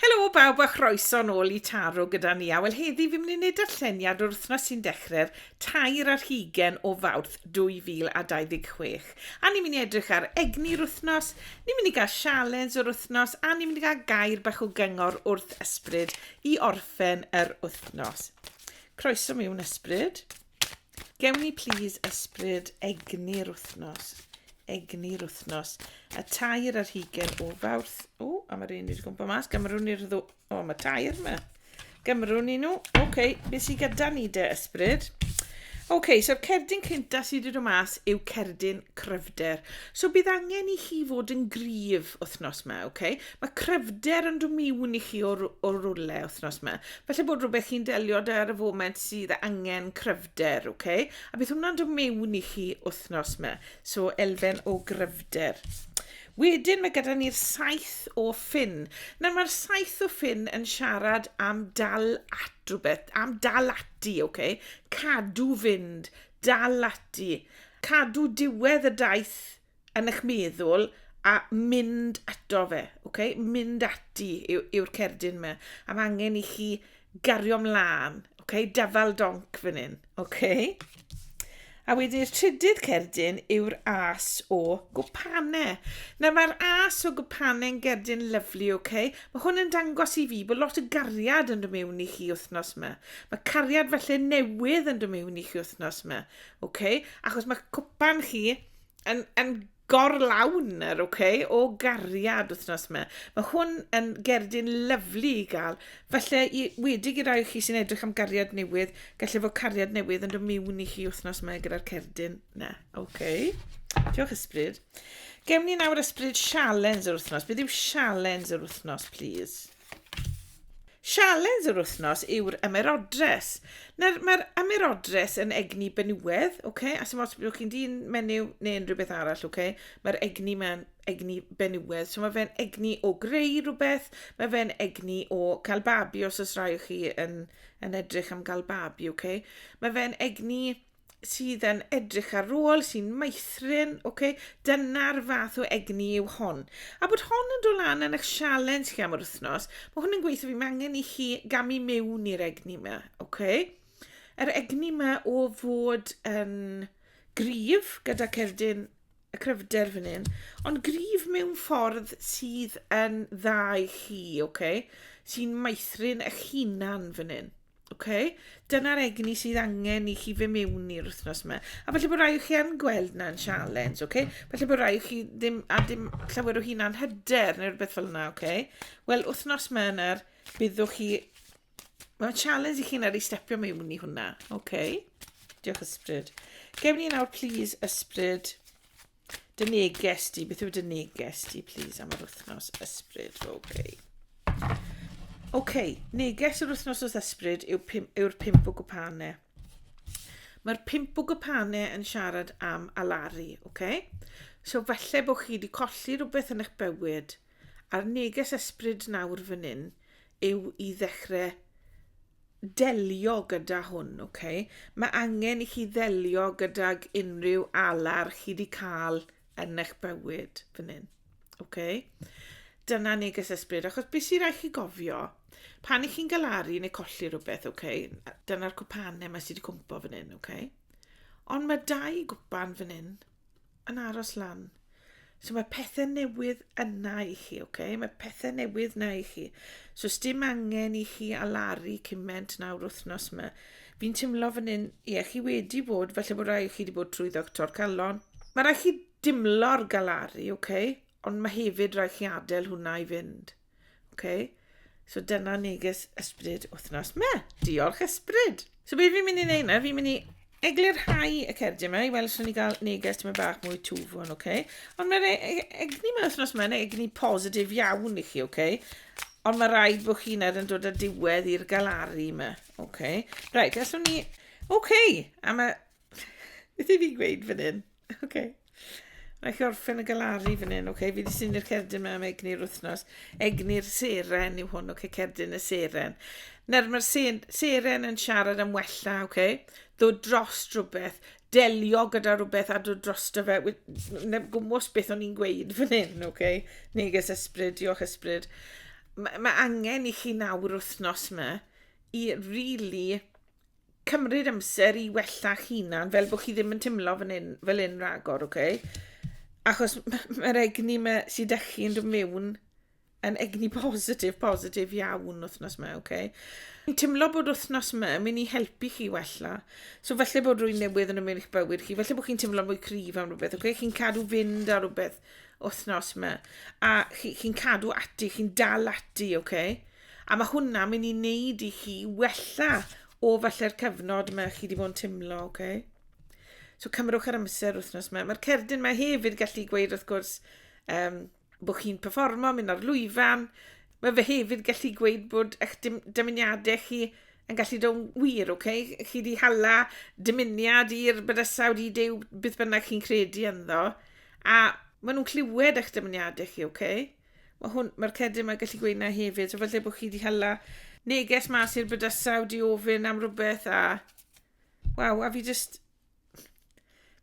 Helo bawb a chroeso nôl i Taro gyda ni a wel heddi fi'n mynd i wneud darlleniad o'r wythnos sy'n dechrau'r tair ar hugen o fawrth 2026 a ni'n mynd i edrych ar egni'r wythnos, ni'n mynd i gael sialens o'r wythnos a ni'n mynd i gael gair bach o gyngor wrth ysbryd i orffen yr wythnos. Croeso mewn ysbryd. Gewn ni plis ysbryd egni'r wythnos. Egni'r wythnos. Y tair ar hugen o fawrth. O, a mae'r un wedi gwmpa mas. Gymrwn ni'r ddw... O, mae tair yma. Gymrwn ni nhw. Oce, okay, beth sy'n gyda ni de ysbryd? Oce, okay, so'r cerdyn cynta sydd wedi dod mas yw cerdyn cryfder. So bydd angen i chi fod yn gryf wythnos yma, oce? Okay? Mae cryfder yn dod mewn i chi o'r, or rwle wythnos yma. Falle bod rhywbeth chi'n delio da ar y foment sydd angen cryfder, oce? Okay? A beth hwnna'n dod mewn i chi wythnos yma. So, elfen o gryfder. Wedyn mae gyda ni'r saith o ffyn. Nawr mae'r saith o ffyn yn siarad am dal at rhywbeth, am dal ati, oce? Okay? Cadw fynd, dal ati. Cadw diwedd y daith yn eich meddwl a mynd ato fe, okay? mynd ati yw'r yw cerdyn yma. A mae angen i chi gario mlaen, okay? dafal donc fan hyn. Okay? A wedyn i'r trydydd cerdyn yw'r as o gwpane. Nawr mae'r as o gwpane yn gerdyn lyflu, oce? Okay? Mae hwn yn dangos i fi bod lot o gariad yn dymewn i chi wythnos yma. Mae cariad felly newydd yn dymewn i chi wythnos yma, oce? Okay? Achos mae cwpan chi yn, yn gorlawn yr ok o gariad wythnos yma. Mae hwn yn gerdyn lyflu i gael. Felly, i, wedi i rai chi sy'n edrych am gariad newydd, gallu fod cariad newydd yn dod mewn i chi wythnos yma gyda'r cerdyn. Na, ok. Diolch ysbryd. Gewn ni nawr ysbryd sialens yr wythnos. Beth yw sialens yr wythnos, please? Sialens yr wythnos yw'r ymerodres. Nawr, mae'r ymerodres yn egni benywedd, okay? a sy'n os byddwch chi'n dyn menyw neu unrhyw beth arall, okay? mae'r egni mae'n egni benywedd. So mae fe'n egni o greu rhywbeth, mae fe'n egni o cael babi os oes rai o chi yn, yn edrych am gael babi, okay? mae fe'n egni sydd yn edrych ar ôl, sy'n meithrin, okay? dyna'r fath o egni yw hon. A bod hon yn dod lan yn eich sialen chi am yr wythnos, mae hwn yn gweithio fi, mae angen i chi gamu mewn i'r egni yma, okay? Yr egni yma o fod yn grif gyda cerdyn y cryfder fan hyn, ond grif mewn ffordd sydd yn dda i chi, okay? sy'n meithrin eich hunan fan hyn. Oce, dyna'r egni sydd angen i chi fe mewn i'r wythnos yma. A felly bod rhai o chi yn gweld na'n sialens, oce? Felly bod rhai o chi ddim, a dim llawer o hunan hyder neu rhywbeth fel yna, oce? Wel, wythnos yma yna'r byddwch chi... Mae'n sialens i chi yna'r i stepio mewn i hwnna, oce? Diolch ysbryd. Gewn ni nawr, please, ysbryd. Dy neges di, beth yw dy neges di, please, am yr wythnos ysbryd, Roby? Oce, okay, neges yr wythnos os ysbryd yw'r pim, yw pimp o gwpane. Mae'r pimp o gwpane yn siarad am alari, oce? Okay? So falle bod chi wedi colli rhywbeth yn eich bywyd, a'r neges ysbryd nawr fan hyn yw i ddechrau delio gyda hwn, ok? Mae angen i chi ddelio gydag unrhyw alar chi wedi cael yn eich bywyd fan hyn, ok? Dyna neges ysbryd, achos beth sy'n rhaid chi gofio, pan i chi'n galaru neu colli rhywbeth, ok? Dyna'r cwpanau mae sydd wedi cwmpo fan hyn, ok? Ond mae dau gwpan fan hyn, yn aros lan. So mae pethau newydd yna i chi, oce? Okay? Mae pethau newydd yna i chi. So os dim angen i chi alaru cymaint nawr wythnos yma. Fi'n teimlo fan hyn, ie, chi wedi bod, felly bod rhaid chi wedi bod trwy ddoctor calon. Mae rhaid chi dimlo'r galaru, oce? Okay? Ond mae hefyd rhaid chi adael hwnna i fynd. Okay? So dyna neges ysbryd wythnos me. Diolch ysbryd. So be fi'n mynd i wneud na? Fi'n mynd i eglurhau y cerdyn yma i weld sy'n ni gael neges tyma bach mwy twfwn, oce? Okay? Ond mae'r e- e- egni yma wythnos yma, neu egni positif iawn i chi, oce? Okay? Ond mae rhaid bod chi'n er yn dod â diwedd i'r galaru yma, oce? Okay? Rhaid, gallwn ni... Oce, okay, a mae... Beth i fi gweud fan hyn? Oce. Okay. Rhaid chi orffen y galaru fan hyn, oce? Okay? Fi wedi syni'r cerdyn mewn egni'r wythnos. Egni'r seren yw hwn, oce? Okay? Cerdyn y seren. Nawr, mae'r seren yn siarad am wella, oce? Okay? Ddo dros rhywbeth, delio gyda rhywbeth a dod dros dy fe. Na gwmwys beth o'n i'n gweud fan hyn, oce? Okay? Neges ysbryd, diolch ysbryd. Mae ma angen i chi nawr wythnos yma i really Cymryd amser i wella'ch hunan, fel bod chi ddim yn teimlo fan hyn, fel hyn ragor, oce? Okay? Achos mae'r egni ma, sydd â chi'n dod mewn yn egni positif, positif iawn wythnos yma, oce? Okay? Mi'n teimlo bod wythnos yma yn mynd i helpu chi wella. So falle bod rwy'n newydd yn ymwneud eich bywyd chi, falle bod chi'n teimlo mwy cryf am rhywbeth, oce? Okay? Chi'n cadw fynd ar rhywbeth wythnos yma. A chi'n chi cadw ati, chi'n dal ati, oce? Okay? A ma' hwnna myn' i neud i chi wella o falle'r cyfnod 'ma chi 'di bod yn timlo, oce? So cymrwch yr amser wythnos 'ma. Ma'r cerdyn 'ma hefyd gallu gweud wrth gwrs um, bod chi'n performo, mynd ar lwyfan. Mae fe hefyd gallu gweud bod eich dim- dymuniadau chi yn gallu dod yn wir, oce? Chi 'di hala dymuniad i'r bydysawd, i Duw, beth bynnag chi'n credu ynddo, a ma' nhw'n clywed eich dymuniadau chi, oce? Mae hwn, mae'r cedyn mae'n gallu gweud na hefyd. So falle bod chi wedi hala neges mas i'r bydysau wedi ofyn am rhywbeth a... Waw, a fi just...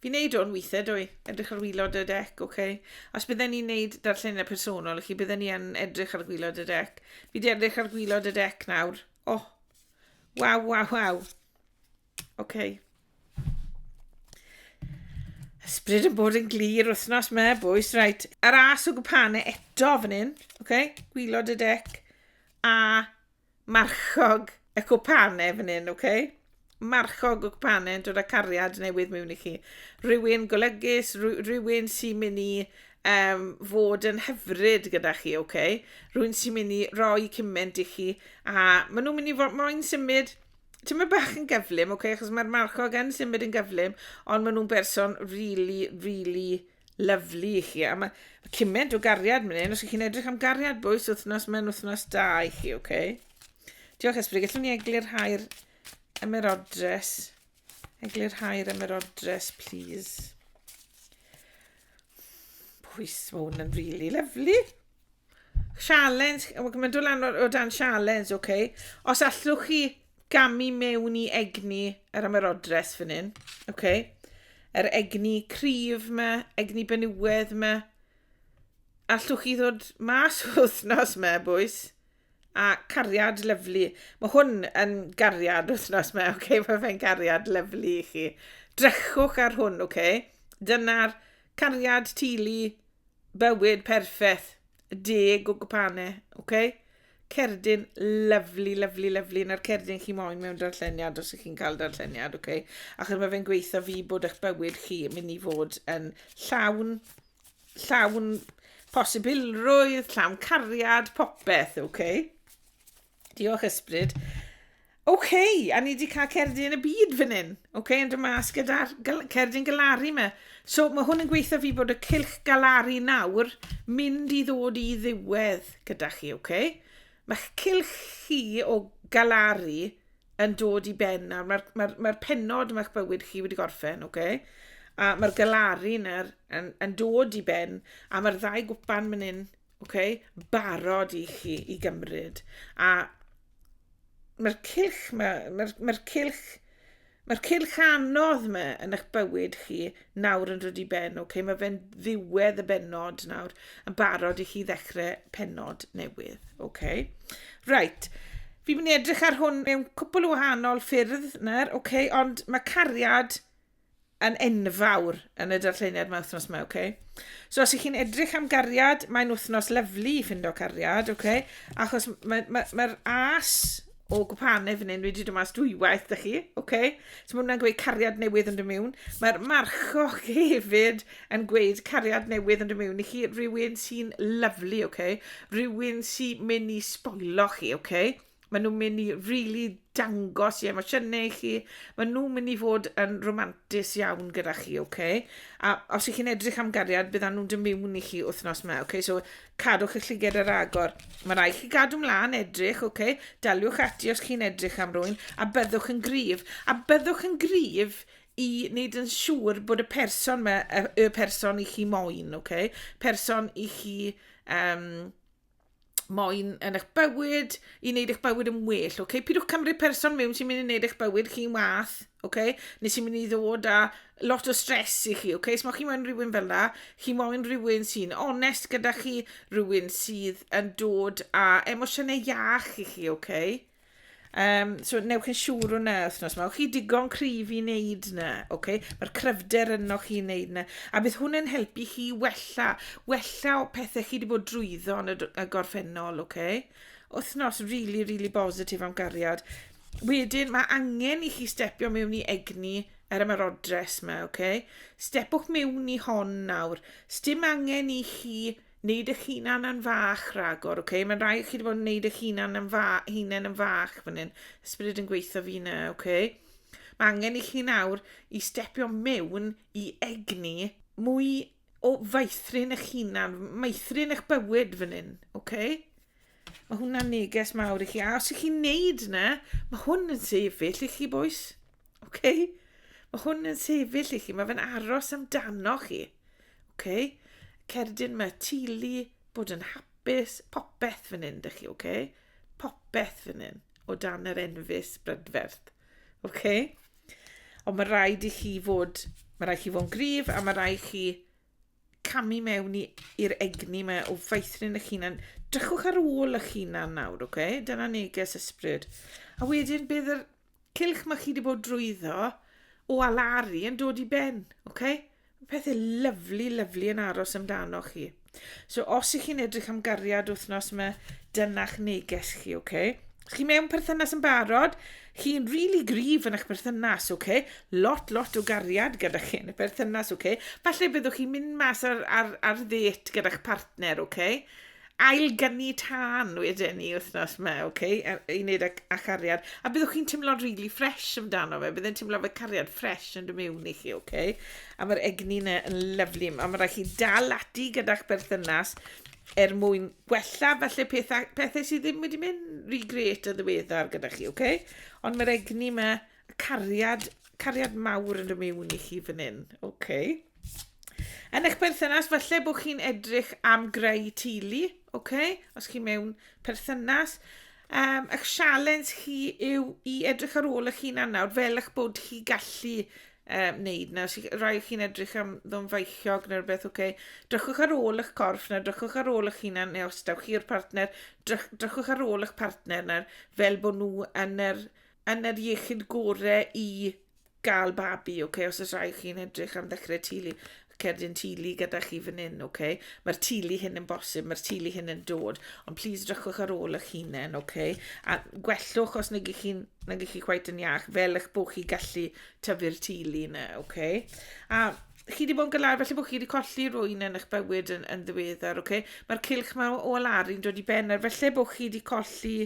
Fi'n neud o'n weithiau, dwi. Edrych ar wylod y dec, oce. Okay. Os bydden ni'n neud darlleniau personol, chi bydden ni yn edrych ar gwylod y dec. Fi di edrych ar gwylod y dec nawr. Oh, waw, waw, waw. OK. Ysbryd yn bod yn glir wythnos me, bwys, reit. Yr as o gwpane eto fan hyn, OK, gwylod y dec, a marchog y cwpane fan hyn, OK. Marchog o gwpane yn dod â cariad newydd mewn i chi. Rhywun golygus, rhywun sy'n mynd i um, fod yn hyfryd gyda chi, OK. Rhywun sy'n mynd i roi cymaint i chi, a maen nhw'n mynd i fod moyn symud ti'n mynd bach yn gyflym, oce, okay, achos mae'r marchog yn symud yn gyflym, ond maen nhw'n berson really, really lyflu i chi. A mae ma cymaint o gariad mynd hyn, os ydych chi'n edrych am gariad bwys wythnos mewn wythnos da i chi, oce? Okay? Diolch Esbryd, gallwn ni eglu'r hair ymerodres. Eglu'r hair ymerodres, please. Pwys, mae hwn yn really lyflu. Sialens, mae'n dod lan o dan sialens, oce. Okay. Os allwch chi gamu mewn i egni yr ymerodres fan hyn, oce. Okay. Yr egni cryf yma, egni benywedd yma. Allwch chi ddod mas o wythnos yma, bwys? A cariad lyflu. Mae hwn yn gariad wythnos yma, oce. Okay. Mae fe'n gariad lyflu i chi. Drechwch ar hwn, oce. Okay. Dyna'r cariad tili bywyd perffaith, deg o gwpane, oce? Cerdyn lyfli, lyfli, lyfli, na'r cerdyn chi moyn mewn darlleniad os ych chi'n cael darlleniad, oce? Achos mae fe'n gweithio fi bod eich bywyd chi yn mynd i fod yn llawn, llawn posibilrwydd, llawn cariad, popeth, oce? Diolch, ysbryd. OK, a ni wedi cael cerdyn yn y byd fan hyn. OK, yn dy mas gyda'r cerdyn galari yma. So mae hwn yn gweithio fi bod y cilch galari nawr mynd i ddod i ddiwedd gyda chi, OK? Mae'ch cilch chi o galari yn dod i ben nawr. Mae'r mae mae penod mae'ch bywyd chi wedi gorffen, OK? A mae'r galari nawr yn, yn dod i ben a mae'r ddau gwpan mynd hyn Oce, barod i chi i gymryd. A mae'r cilch, mae'r ma ma cilch, mae'r cilch anodd yma yn eich bywyd chi nawr yn rydw i ben, oce, okay? mae fe'n ddiwedd y benod nawr, yn barod i chi ddechrau penod newydd, oce. Okay? Right, fi'n mynd i edrych ar hwn mewn cwpl o wahanol ffyrdd nawr, oce, okay? ond mae cariad yn enfawr yn y darlleniad mae wythnos yma, ok? So os ych chi'n edrych am gariad, mae'n wythnos lyflu i ffindo cariad, ok? Achos mae'r ma, ma, ma as o gwpanau fan hyn wedi dod mas dwywaith da chi, ok? So mae hwnna'n gweud cariad newydd yn dymiwn. Mae'r marchoch hefyd yn gweud cariad newydd yn dymiwn i chi rhywun sy'n lyflu, ok? Rhywun sy'n mynd i sboilo chi, ok? Maen nhw'n mynd i really dangos i emosiynau i chi. Maen nhw'n mynd i fod yn romantis iawn gyda chi, oce? Okay? A os ych chi'n edrych am gariad, byddan nhw'n dymiwn i chi wythnos yma, oce? Okay? So, cadwch eich lliged ar agor. Mae rai chi gadw mlaen edrych, oce? Okay? Daliwch ati os chi'n edrych am rwy'n, a byddwch yn gryf. A byddwch yn gryf i wneud yn siŵr bod y person yma, y, y person i chi moyn, oce? Okay? Person i chi... Um, moyn yn eich bywyd, i wneud eich bywyd yn well, oce? Okay? Pidwch cymryd person mewn sy'n mynd i wneud eich bywyd chi'n wath, oce? Okay? Neu sy'n mynd i ddod â lot o stres i chi, oce? Okay? Os mae chi moyn rhywun fel la, chi moyn rhywun sy'n onest gyda chi, rhywun sydd yn dod â emosiynau iach i chi, oce? Okay? Um, so, newch yn siŵr hwnna wythnos yma. Chi digon cryf i wneud yna, oce? Okay? Mae'r cryfder yno chi wneud yna. A bydd hwnna'n helpu chi wella, wella o pethau chi wedi bod drwyddo yn y, y gorffennol, oce? Okay? Wythnos really, really bositif am gariad. Wedyn, mae angen i chi stepio mewn i egni er yma'r odres yma, oce? Okay? Stepwch mewn i hon nawr. Stym angen i chi Neud eich hunan yn fach ragor, ok? Mae'n rhaid i chi wedi bod yn neud eich hunan yn fa hunain yn fach fan hyn. Ysbryd yn gweithio fi na, ok? Mae angen i chi nawr i stepio mewn i egni mwy o faethrin eich hunan, maethrin eich bywyd fan hyn, ok? Mae hwnna'n neges mawr i chi. A os ych chi'n neud na, mae hwn yn sefyll i chi, boes. Ok? Mae hwn yn sefyll i chi. Mae fe'n aros amdano chi. Oce? Cerdyn, mae tili, bod yn hapus, popeth fan hyn, dych chi, oce? Popeth fan hyn, o dan yr enfys brydferth. Oce? Ond mae rhaid i chi fod, mae rhaid i chi fod yn gryf a mae rhaid i chi camu mewn i'r egni mae o faethrin eich hunan. Drychwch ar ôl eich hunan nawr, oce? Okay? Dyna neges ysbryd. A wedyn bydd yr cylch ma' chi 'di bod drwyddo o alaru yn dod i ben, oce? Ma' pethe lyfli lyfli yn aros amdanoch chi. So os 'ych chi'n edrych am gariad wythnos 'ma, dyna'ch neges chi, oce? Os chi mewn perthynas yn barod, chi'n rili really gryf yn eich perthynas, oce? Lot lot o gariad gyda chi yn y perthynas, oce? Falle byddwch chi'n mynd mas ar ar ar ddêt gyda'ch partner, oce? ail gynni tân wedyn ni wythnos yma, ok, i wneud â, â cariad. A byddwch chi'n teimlo'n really fresh amdano fe, byddai'n teimlo fe cariad fresh yn dy mewn i chi, ok? A mae'r egni yna yn lyflu, a mae rhaid chi dal ati gyda'ch berthynas er mwyn gwella falle pethau, pethau sydd ddim wedi mynd rhy gret o ddiweddar gyda chi, ok? Ond mae'r egni yma Cariad, cariad mawr yn rhywun miwn i chi fan hyn. OK. Yn eich perthynas, falle bod chi'n edrych am greu teulu, OK? Os chi mewn perthynas. Um, eich sialens chi yw i edrych ar ôl eich hunan nawr, fel eich bod chi gallu um, wneud na. Os rai chi'n edrych am ddom feichiog neu rhywbeth, OK? Drychwch ar ôl eich corff na, drychwch ar ôl eich hunan, neu os daw chi'r partner, drych, drychwch ar ôl eich partner na, fel bod nhw yn yr yn yr iechyd gore i gael babi, ok, os oes rhai chi'n edrych am ddechrau tulu, cerdyn tulu gyda chi fan hyn, ok, mae'r tulu hyn yn bosib, mae'r tulu hyn yn dod, ond plis drychwch ar ôl eich hunain, ok, a gwellwch os nag chi'n nag chi chwaith yn iach, fel eich bod chi gallu tyfu'r tulu yna, ok, a chi wedi bod yn galar, felly bod chi wedi colli rwy'n yn eich bywyd yn, yn ddiweddar, ok, mae'r cilch mae o alaru'n dod i ben, ar felly bod chi wedi colli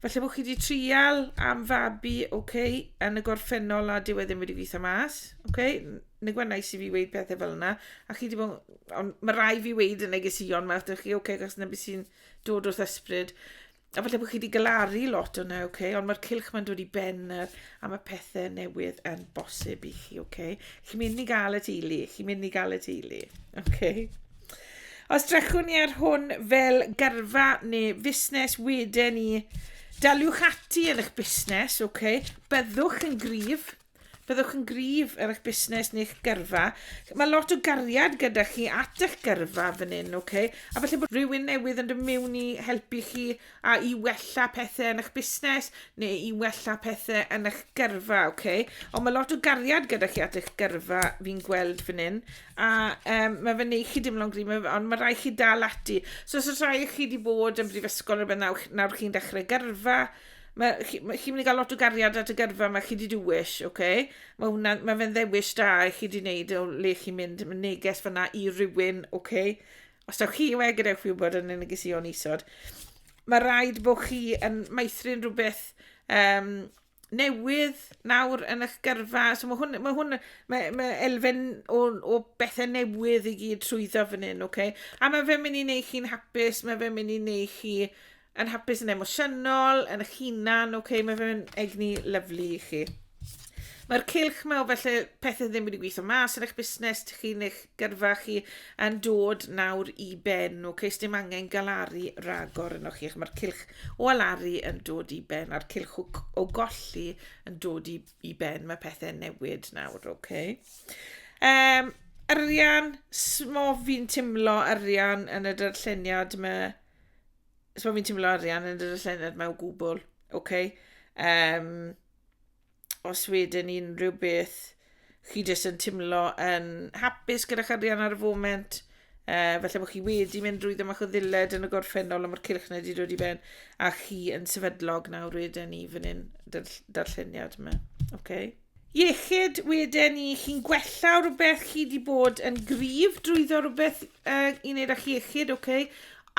Felly bod chi wedi trial am fabi, oce, okay, yn y gorffennol a dyw e ddim wedi gweithio mas, oce, okay, neu gwa'n nais i fi weid pethau fel yna, a chi wedi bod, ond mae rai fi weid yn negesion fach, dych chi, oce, okay, gos na beth sy'n dod wrth ysbryd. A falle bod chi wedi galaru lot o'na, oce, okay, ond mae'r cilch mae'n dod i ben yr, a mae pethau newydd yn bosib i chi, oce. Okay. Chi'n mynd i gael y teulu, chi'n mynd i gael y teulu, oce. Okay. Os drechwn ni ar hwn fel gyrfa neu fusnes wedyn ni, daliwch ati yn eich busnes, ok, byddwch yn gryf, byddwch yn gryf ar eich busnes neu'ch gyrfa. Mae lot o gariad gyda chi at eich gyrfa fan hyn, ok, a felly bod rhywun newydd yn dod mewn i helpu chi a i wella pethe yn 'ych busnes neu i wella pethe yn 'ych gyrfa, oce? Ond mae lot o gariad gyda chi at 'ych gyrfa fi'n gweld fan hyn, a um, mae fe'n neud chi dimlo'n gryf, ond mae rhaid chi dal ati. So os oes rhai o chi wedi bod yn brifysgol rhywbeth nawr, nawr chi'n dechrau gyrfa, mae chi, ma, chi mynd i gael lot o gariad at y gyrfa mae chi wedi dywys, oce? Okay? Mae, hwnna, mae fe'n ddewis da i chi wedi wneud o le chi'n mynd, mae neges fyna i rywun, oce? Okay? Os ewch chi we gadewch fi wybod yn y negeseuon isod. Mae rhaid bod chi yn maethrin rhywbeth um, newydd nawr yn eich gyrfa. So mae hwn, mae hwn, mae, mae elfen o, o bethau newydd i gyd trwyddo fan hyn, oce? Okay? A mae fe'n mynd i wneud chi'n hapus, mae fe'n mynd i wneud chi yn hapus yn emosiynol, yn eich hunan, oce, okay, mae fe'n egni lyflu i chi. Mae'r cilch mae o felly pethau ddim wedi gweithio mas yn eich busnes chi neu eich gyrfa chi yn dod nawr i ben, oce, okay, dim angen galaru ragor yno chi, mae'r cilch o alaru yn dod i ben, a'r cilch o, o golli yn dod i, i ben, mae pethau newid nawr, oce. Okay. Um, arian, smof fi'n timlo arian yn y darlleniad mae so fi'n teimlo arian yn yr llynedd mewn gwbl, oce? Okay? Um, os wedyn unrhyw beth, chi jyst yn teimlo yn hapus gyda'ch arian ar y foment, uh, felly bod chi wedi mynd drwy ddim achos ddiled yn y gorffennol am yr cilch na wedi dod i ben, a chi yn sefydlog nawr wedyn ni fan hyn, darlleniad yma, oce? Okay? Iechyd weden ni, chi'n gwella rhywbeth, chi wedi bod yn gryf drwyddo rhywbeth uh, i wneud â'ch iechyd, oce, okay?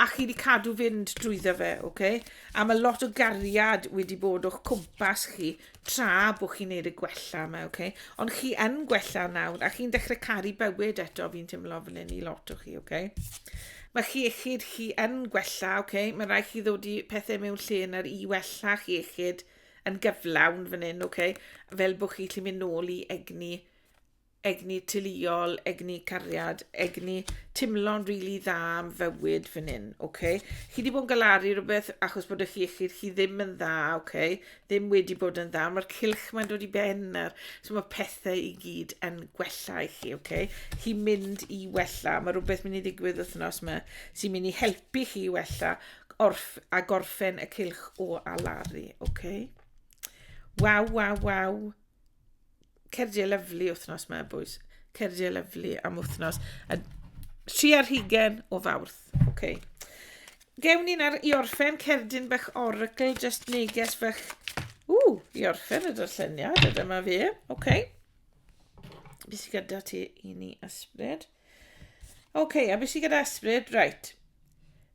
a chi wedi cadw fynd drwyddo fe, oce? Okay? A mae lot o gariad wedi bod o'ch cwmpas chi tra bod chi'n neud y gwella yma, oce? Okay? Ond chi yn gwella nawr, a chi'n dechrau caru bywyd eto, fi'n teimlo fan hyn i lot o chi, oce? Okay? Mae chi iechyd chi yn gwella, oce? Okay? Mae rhaid chi ddod i pethau mewn lle na'r i wella chi iechyd, oce? yn gyflawn fan hyn, okay? fel bod chi'n gallu mynd nôl i egni, egni teuluol, egni cariad, egni timlo'n rili really dda am fywyd fan hyn. Okay? Chi wedi bod yn galaru rhywbeth achos bod eich iechyd chi ddim yn dda, okay? ddim wedi bod yn dda, mae'r cilch mae'n dod i ben ar, so mae pethau i gyd yn gwella i chi, okay? chi'n mynd i wella, mae rhywbeth mynd i ddigwydd wythnos yma sy'n mynd i helpu chi i wella, Orff a gorffen y cylch o alaru. Oce. Waw, waw, waw. Cerdiau lyflu wythnos mae bwys. Cerdiau lyflu am wythnos. A tri ar hugen o fawrth. Oce. Gewn ni'n ar i orffen cerdyn bych oracl, just neges bych... Ww, i orffen y darlleniad, a dyma fe. Oce. Okay. Beth sy'n gyda ti i ni ysbryd? Oce, okay, a beth sy'n gyda ysbryd? Right.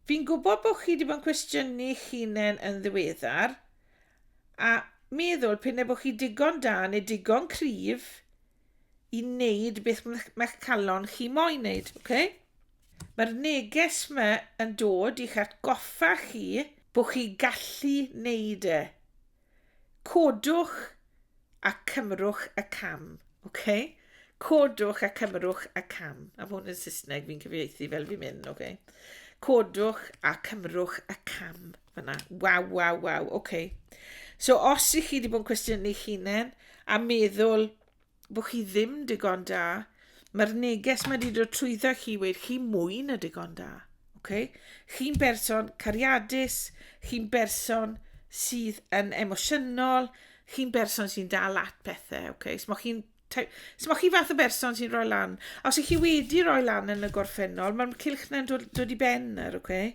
Fi'n gwybod bod chi wedi bod yn cwestiynu hunain yn ddiweddar, a meddwl pyn e bod chi digon da neu digon cryf i wneud beth mae'ch calon chi moyn wneud, oce? Okay? Mae'r neges yma yn dod i'ch atgoffa chi bod chi gallu wneud e. Codwch a cymrwch y cam. Okay? Codwch a cymrwch y cam. A hwn yn Saesneg, fi'n cyfieithu fel fi'n mynd, oce? Okay? Codwch a cymrwch y cam fyna. Waw, waw, waw, oce. Okay. So, os i chi wedi bod yn cwestiynu hunain a meddwl, bod chi ddim digon da. Mae'r neges mae wedi dod trwyddo chi wedi chi mwy na digon da. Okay? Chi'n berson cariadus, chi'n berson sydd yn emosiynol, chi'n berson sy'n dal at pethau. Okay? So, chi'n So mae chi fath o berson sy'n rhoi lan. Os ych chi wedi rhoi lan yn y gorffennol, mae'r cylch na'n dod, dod i ben ar, okay?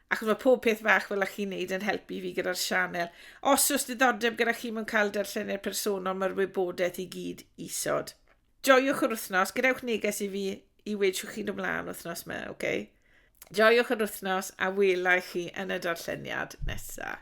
achos mae pob peth fach fel ych chi'n neud yn helpu fi gyda'r sianel. Os oes diddordeb gyda chi mewn cael darllenir personol, mae'r wybodaeth i gyd isod. Joiwch yr wythnos, gadewch neges i fi i wedi siwch chi'n ymlaen wythnos yma, oce? Okay? Joiwch yr wythnos a welai chi yn y darlleniad nesaf.